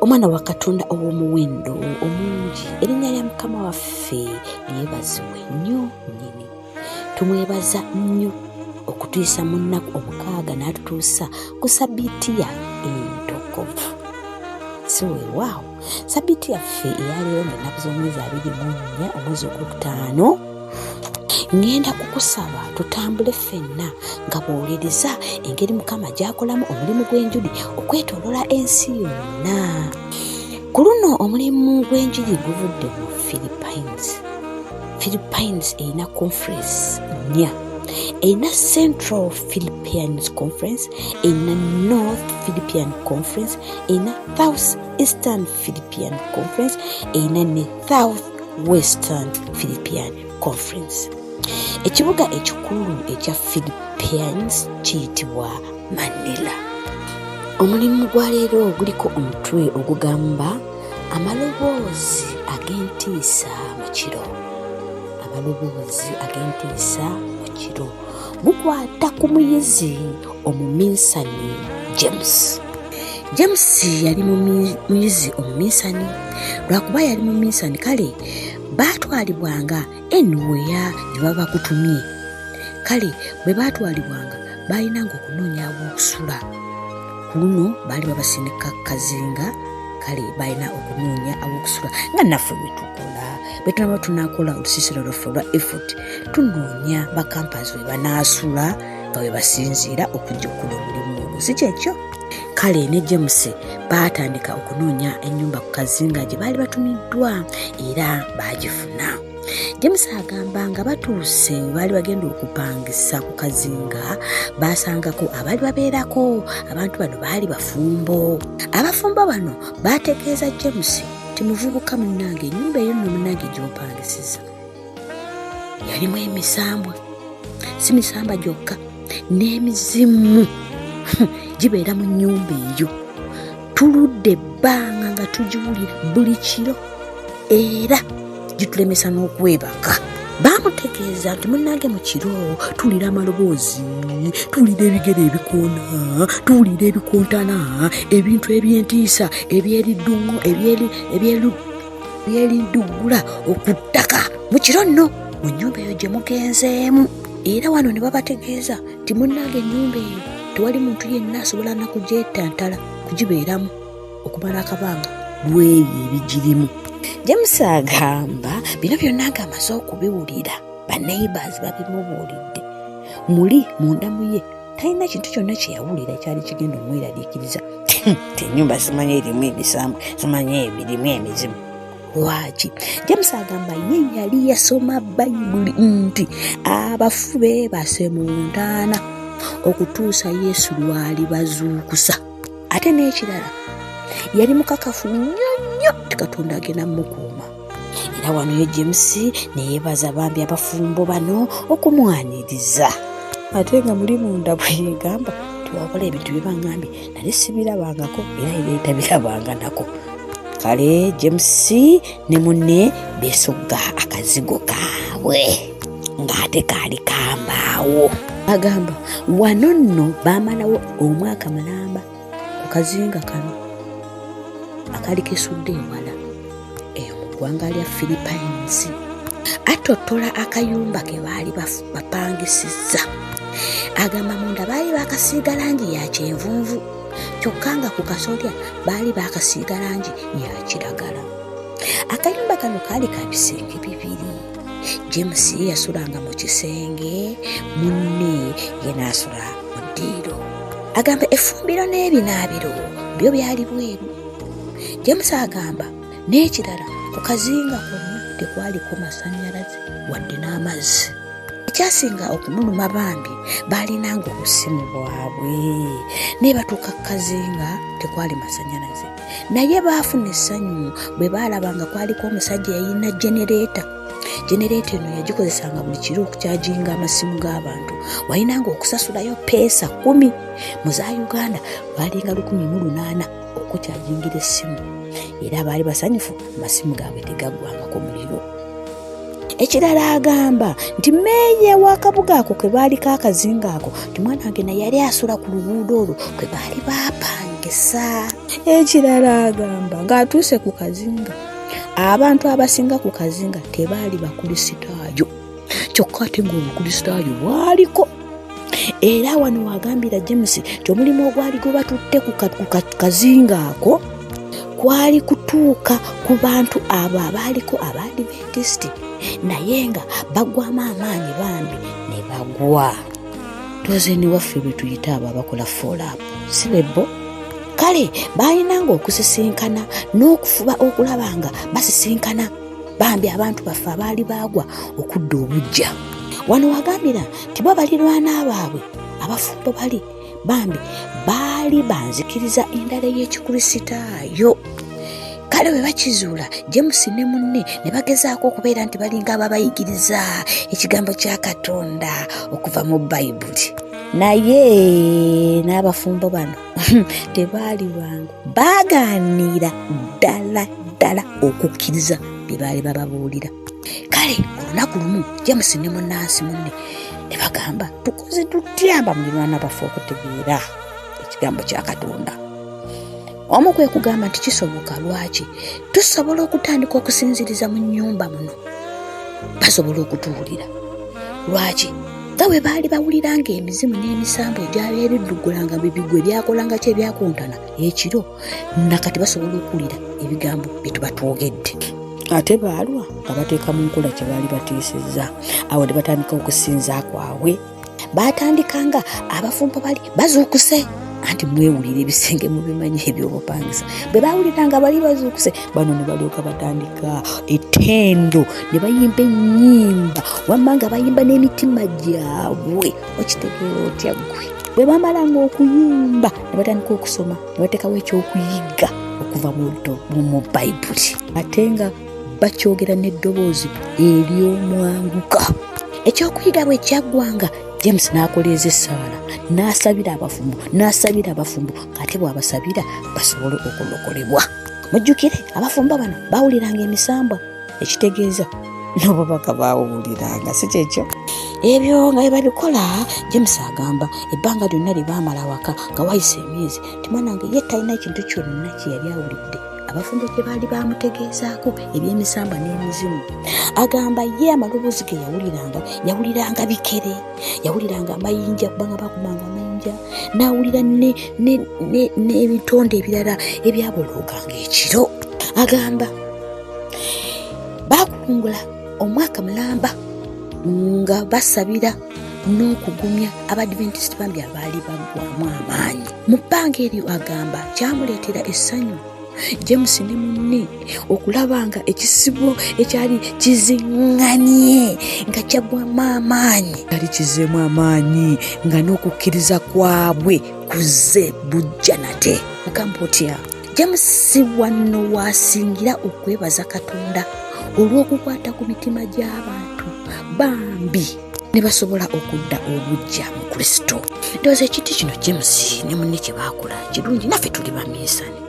omwana wa katonda ow'omuwendo omungi erinnya lya mukama waffe lyebazibwe nnyo nnyini tumwebaza nnyo okutuyisa mu nnaku omukaaga n'atutuusa ku sabiiti ya entokovu siwewaawo sabiti yaffe eyaleero ngaennaku z'omwezi abiri mu nnya omwezi ogwokutaano ŋŋenda kukusaba tutambule ffenna nga bwowuliriza engeri mukama gy'akolamu omulimu gw'enjuli okwetolola ensi yonna ku luno omulimu gw'enjiri guvudde mu philippines philippines erina conference nnya erina central philippians conference erina north philippian conference erina south eastern philippian conference erina ne south western philippian conference ekibuga ekikulu ekya philippines kiyitibwa manila omulimu gwa leero guliko omutwe ogugamba amaloboozi ag'entiisa mu kiro amaloboozi ag'entiisa mu kiro gukwata ku muyizi omuminsani james james yali muyizi omuminsani lwakuba yali muminsani kale baatwalibwanga enuweya ne babakutumye kale bwe baatwalibwanga baalinanga okunoonya awokusula ku luno baali babasindika kazinga kale balina okunoonya awokusula nga naffe bwetukola bwetunaba tunakola olusiisira lwaffe olwa effort tunoonya bakampazi we banaasula nga we basinziira okujjukula omulimu ogwo si kyekyo kale ne james baatandika okunoonya ennyumba ku kazinga gye baali batumiddwa era baagifuna james agamba nga batuuse we baali bagenda okupangisa ku kazinga baasangako abaali babeerako abantu bano baali bafumbo abafumbo bano baategeeza james nti muvubuka munnange ennyumba eyo nno munnange gy'opangisiza yalimu emisambwa si misamba gyokka n'emizimu gibeera mu nnyumba eyo tuludde ebbanga nga tugiwulira buli kiro era gitulemesa n'okwebaka bamutegeeza nti munange mu kiro tuwulira amaloboozi tuwulira ebigere ebikoona tuwulira ebikontana ebintu ebyentiisa ebyeriddungo ebyeri yelinduggula okuttaka mu kiro nno mu nnyumba eyo gye mugenzeemu era wano ne babategeeza nti munnange ennyumba eyo tewali muntu yenna asobola nakugyetantala kugibeeramu okumala akabanga bwebyo ebigirimu james agamba bino byonna nga amaze okubiwulira baneighbors babimubuulidde muli mundamu ye talina kintu kyonna kye yawulira ekyali kigenda omweraliikiriza nti enyumba zimanyi erimu ebisambu zimanyi ebirimu emizimu lwaki james agamba ye yali yasoma bayibuli nti abafu beebase mu ntaana okutuusa yesu lwali bazuukusa ate n'ekirala yali mukakafu nnyo nnyo tikatonda agenda mukuuma era wano ye james neyebaza bambi abafumbo bano okumwaniriza ate nga muli munda bweyegamba tiwakola ebintu byebaŋambye nali sibirabangako era eretabirabanga nako kale james ne munne besogga akazigo kaabwe ng'ate kaali kambaawo agamba wano nno baamalawo omwaka mulamba ku kazinga kano akali kesudde ewala eyo mu ggwanga lya philippines atottola akayumba ke baali bapangisizza agamba munda baali bakasiiga langi ya kyenvunvu kyokka nga ku kasolya baali bakasiiga langi ya kiragala akayumba kano kaali ka bisenge bibiri james yasulanga mu kisenge munne ye naasula mu ddiiro agamba efumbiro n'ebinaabiro byo byali bweru james agamba n'ekirala ku kazinga konna tekwaliko masannyalaze wadde n'amazzi ekyasinga okumuluma bambi baalinanga obusimu bwabwe naye batuuka ku kazinga tekwali masannyalaze naye baafuna essanyu bwe baalaba nga kwaliko omusajja yayina genereeta genereeta eno yagikozesanga buli kiro okukyajinga amasimu g'abantu walinanga okusasulayo peesa kumi mu za uganda lwalinga lukumi mu lunaana okukyajingira essimu era baali basanyufu amasimu gaabwe tegaggwangako muliro ekirala agamba nti meeya w'akabuga ako ke baali kakazinga ako nti mwana wange naye yali asula ku luguudo olwo kwe baali bapangisa ekirala agamba ng'atuuse ku kazinga abantu abasinga ku kazinga tebaali bakulisitaayo kyokka ate ng'obukulisitaayo bwaliko era wano wagambira james nti omulimu ogwali gwebatutte ku kazinga ako kwali kutuuka ku bantu abo abaaliko abaadiventisiti naye nga bagwamu amaanyi bambi ne bagwa tozeni waffe bwe tuyita abo abakola foolaapu si bebbo kale balinanga okusisinkana n'okufuba okulaba nga basisinkana bambi abantu baffe abaali baagwa okudda obujja wano wagambira tibwa balirwana baabwe abafumbo bali bambi baali banzikiriza endala ey'ekikurisitaayo kale bwe bakizuula james ne munne ne bagezaako okubeera nti balinga ababayigiriza ekigambo kya katonda okuva mu bayibuli naye n'abafumbo bano tebaali bangu baagaaniira ddala ddala okukkiriza bye baali bababuulira kale olunaku lumu james ne munansi munne ne bagamba tukoze tutyamba mulirwana baffe okutegeera ekigambo kya katonda omu kwe kugamba nti kisoboka lwaki tusobola okutandika okusinziriza mu nnyumba muno basobola okutuwulira lwaki nga bwe baali bawuliranga emizimu n'emisambu egyali ebiddugulanga bibigwe byakolanga kyebyakuntana ekiro nakati basobola okuwulira ebigambo bye tuba twogedde ate baalwa nga bateeka mu nkola kye baali batiisizza awo ne batandika okusinza kwabwe baatandika nga abafumbo bali bazuukuse anti mwewulira ebisenge mubimanyi ebyobupangisa bwe bawulira nga bali bazuukuse bano ne balyoka batandika etendo ne bayimba ennyimba wamma nga bayimba n'emitima gyabwe okitegeera otya ggwe bwe bamalanga okuyimba ne batandika okusoma ne bateekawo ekyokuyigga okuva mu luto mu bayibuli ate nga bakyogera n'eddoboozi ery'omwanguka ekyokuyiga bwe kyaggwanga james n'akoleeza essaala n'asabira abafumbo n'asabira abafumbo ng'ate bw'abasabira basobole okulokolebwa mujjukire abafumbo bano bawuliranga emisambwa ekitegeeza nobo bakabaawuuliranga si kyekyo ebyo nga bebabikola james agamba ebbanga lyonna lyebaamala waka nga wayisa emyezi timanange ye talina ekintu kyonna kyeyali awulidde abafumbo gye baali bamutegeezaako ebyemisamba n'emizimu agamba ye amaloboozi ge yawuliranga yawuliranga bikere yawuliranga amayinja kubanga bakumanga amayinja n'awulira n'ebitonde ebirala ebyabolooganga ekiro agamba baakukungula omwaka mulamba nga basabira n'okugumya abadventist bambi abaali baggwamu amaanyi mu bbanga eryo agamba kyamuleetera essanyu james ne munne okulaba nga ekisibo ekyali kizinganye nga kyagwamu amaanyi kyali kizeemu amaanyi nga n'okukkiriza kwabwe kuzze bujja nate mugamba otya james si wanno waasingira okwebaza katonda olw'okukwata ku mitima gy'abantu bambi ne basobola okudda obujja mu kristo ndowooza ekiti kino james ne munne kye baakola kirungi naffe tuli baminsani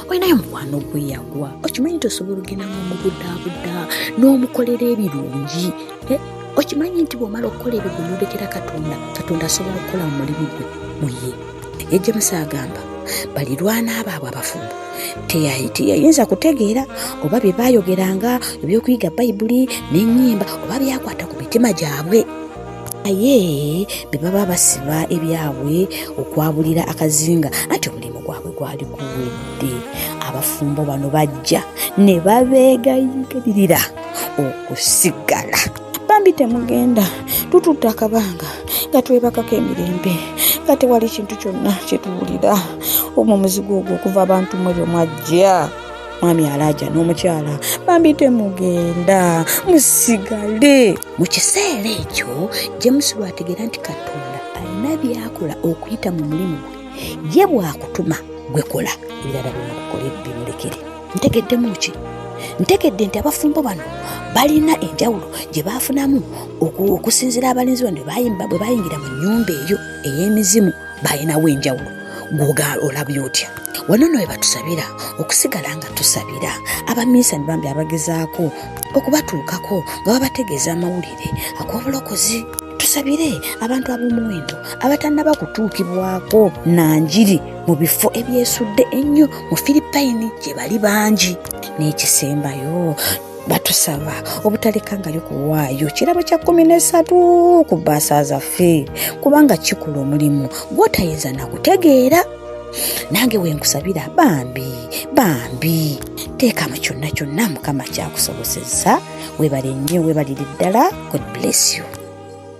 olinayo mukwano gwe yagwa okimanyi nti osobola ogenda nga omubudaabuda n'omukolera ebirungi eh, okimanyi nti bw'omala okukola ebyo gwe yolekera katonda katonda asobola okukola mu mulimu gwe muye naye james agamba balirwana abaabwe abafumbo teyayinza kutegeera oba bye baayogeranga ebyokuyiga bayibuli n'ennyimba oba byakwata ku mitima gyabwe naye be baba basiba ebyabwe okwabulira akazinga anti omulimu gwabwe gwali guwedde abafumbo bano bajja ne babeegayigalirira okusigala bambi temugenda tutudde akabanga nga twebakako emirembe nga tewali kintu kyonna kyetuwulira omu muzigo ogwo okuva abantu mwe byo mwajja mwami alaja n'omukyala bambi temugenda musigale mu kiseera ekyo james lwategeera nti katonda alina byakola okuyita mu mulimu gwe ye bwakutuma gwekola ebirala byonakukola ebimulekere ntegeddemu ki ntegedde nti abafumbo bano balina enjawulo gye baafunamu okusinzira abalinzi bano bwe bayingira mu nyumba eyo ey'emizimu balinawo enjawulo gwogaala olabye otya wano no webatusabira okusigala nga tusabira abaminsani bambi abagezaako okubatuukako nga babategeeza amawulire ag'obulokozi tusabire abantu ab'omuwendo abatannaba kutuukibwako na njiri mu bifo ebyesudde ennyo mu filippayini gye bali bangi n'ekisembayo batusaba obutalekangayo kuwaayo kirabo kya kumi nesatu ku baasa zaffe kubanga kikula omulimu gwotayinza nakutegeera nange wenkusabira bambi bambi teeka mu kyonna kyonna mukama kyakusoboseza webale nnyo webalire ddala god bless you